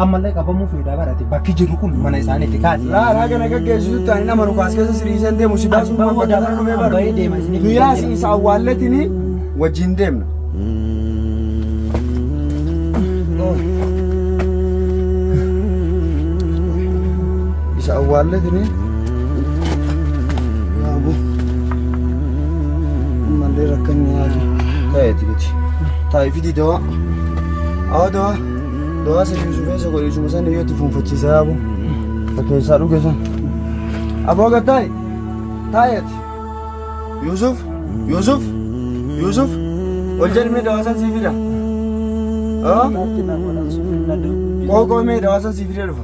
ammallee qabamuu feedaa barate bakki jirru kun mana isaaniiti kaasi. Raaraa kana gaggeessisutti ani nama nu kaas keessa siriiseen deemu si baasuun Abbaa waan hoodaa bakka dhufee barra bahee deema isiniif Nu hin yaasi deemne. isa awwaalletini wajjin deemna. Isa awwaalletini yaabu ammallee rakkanni yaadu ta'eeti miti. Taa'ifidii dawaa. Awa doa. Doa sirri sufee soko isuma san yoo itti fuunfachiisaa abu. Fakkeessaa dhuge san. Aboo gattaay. Taayati. Yuusuf. Yuusuf. Yuusuf. Ol jedhmee dawaa san sii fida. Qoqoo mee dawaa san sii fidee dhufa.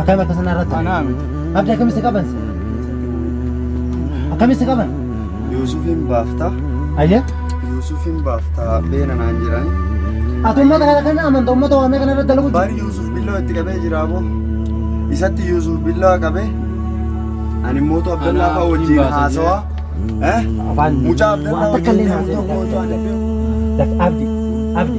Akkam akka sana irratti Anaa miti. Abdi akkamitti qaban si? Akkamitti qaban? Yuusufiin baaftaa. Ayyee. Yuusufiin baaftaa beena naan jedhani. Ati uummata kana kan amanta uummata waamee kana irratti dalagu Bari Yuusuf billaa itti qabee jira boo. Isatti Yuusuf billaa qabee. Ani mootu Abdallaa fa'aa wajjin haasawaa. Eh? Mucaa Abdallaa wajjin deemu tokko Abdi, Abdi.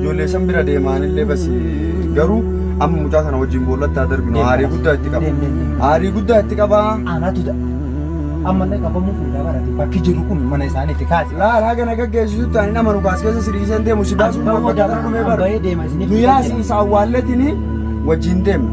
Ijoollee san bira deemaanillee basi garuu amma mucaa kana wajjin boollatti haa darbinu aarii guddaa itti qaba. Aarii guddaa itti qaba. Anaatu da. Amma illee qabamuu fuudhaa barate bakki jiru kun mana isaaniitti kaase. Laala haga na gaggeessisutti ani nama nukaas keessa siriiseen deemu si baasuun Abbaa bakka kana dhumee bara. Abbaa deema isiniif. Guyyaa siin isa awwaalletini wajjin deemna.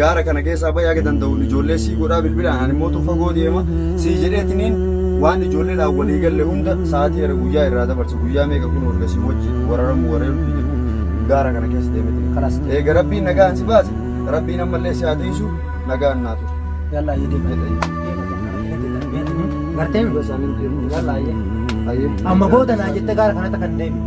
gaara kana keessaa bahi haga danda'uun ijoollee sii godhaa bilbilaan ani mootu fagoo deema sii jedheetiniin waan ijoolleedhaan walii galle hunda sa'aatii irra guyyaa irraa dabarse guyyaa meeqa kun erga sii wajji wararamu wareeruu fi jedhu gaara kana keessa deemete Kalas. eega rabbiin nagaan si baase rabbiin ammallee si haa tiisu nagaan naa ture Yalla ayyee deema. Gartee mi? Yalla ayyee. Amma booda naa jette gaara kanatti kan deemi.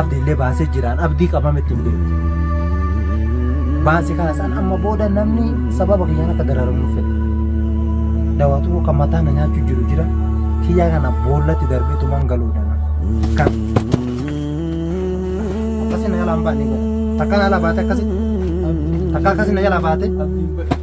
Abdi illee baasee jiraan abdii qabame itti hin beeku. Baase kana san amma booda namni sababa kiyyaan akka dararamu fedhe. Dawaatu kan mataa na nyaachuu jiru jira. Kiyyaa kana boollatti darbee tumaan galuudha. Kan akkasii na jalaa hin baane godha. Takkaan alaa baate akkasii. Takkaa akkasii na jalaa baate.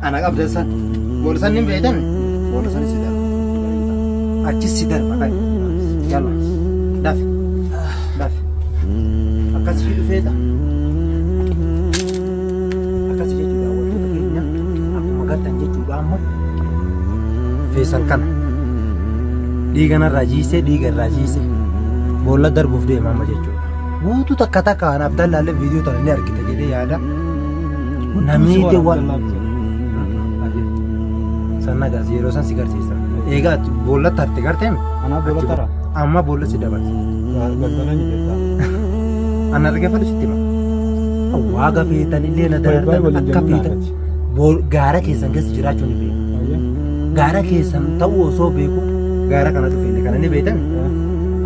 Ana qabda san. Booda san hin beektan. Booda san si darba. Achis si darba kan. Yalla. Dafi. Dafi. Akkas fi dhufeeta. Akkas jechuu daawwattoota keenya akkuma gartan jechuudha amma. Feesal kana. Dhiiga narraa jiisee dhiiga irraa jiisee. Boolla darbuuf deema amma jechuudha. Guutuu takka takka kan Abdallaallee viidiyoo tana ni argita jedhee yaada. Namni itti waan sanna gaas yeroo san si garsiisa. Eegaa ati boolla tarte garteem Anaa boolla tara. amma boolla si dabarsa. Galtana ni beektaa. Ana argafadhu sitti hima. Waa gafeetan illee na Baay'ee darartan waliin akka jennaan feetan. ati. Bool- Gaara keessan keessa jiraachuu ni beeku. Ayyaa. Gaara keessan ta'uu osoo beeku gaara kana dhufeenne kana ni beektan.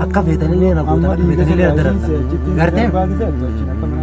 Akka feetan illee na Amma gootan akka dhiiga feetan illee na sirraa darartan. isin seechitti Garteem? barbaadisa, jechuun akka mana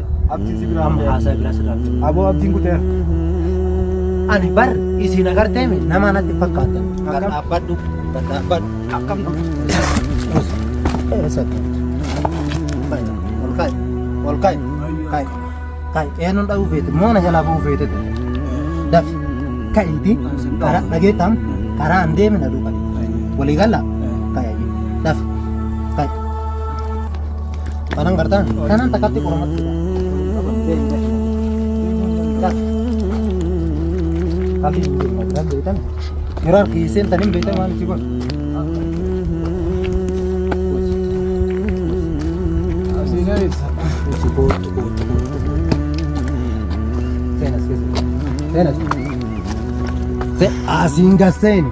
Abdiin si biraa Amma haasaa biraa sirraa fudhu. Aboo abdiin kuteera. Ani bar isin agartee mi nama natti fakkaatan. Bar Akkam? dhaabbadhu. Bar dhaabbadhu. Akkam kun? Eessa qabdu? Kai, ol kai, ol kai, kai, kai. Eenyuun dhahuu feete moona jalaa bahuu feete ture. Dafi ka'iiti karaa dhageettam karaa hin deemina duuba. Walii galla? Kai, dafi kai. Kanan gartaan. Kanan takkatti qormatti. Kafii hin beekna jiran beektan. Yeroo harki hiiseen tan hin beektan waan itti godhu. Seenas keessa. Seenas. Asiin gas seeni.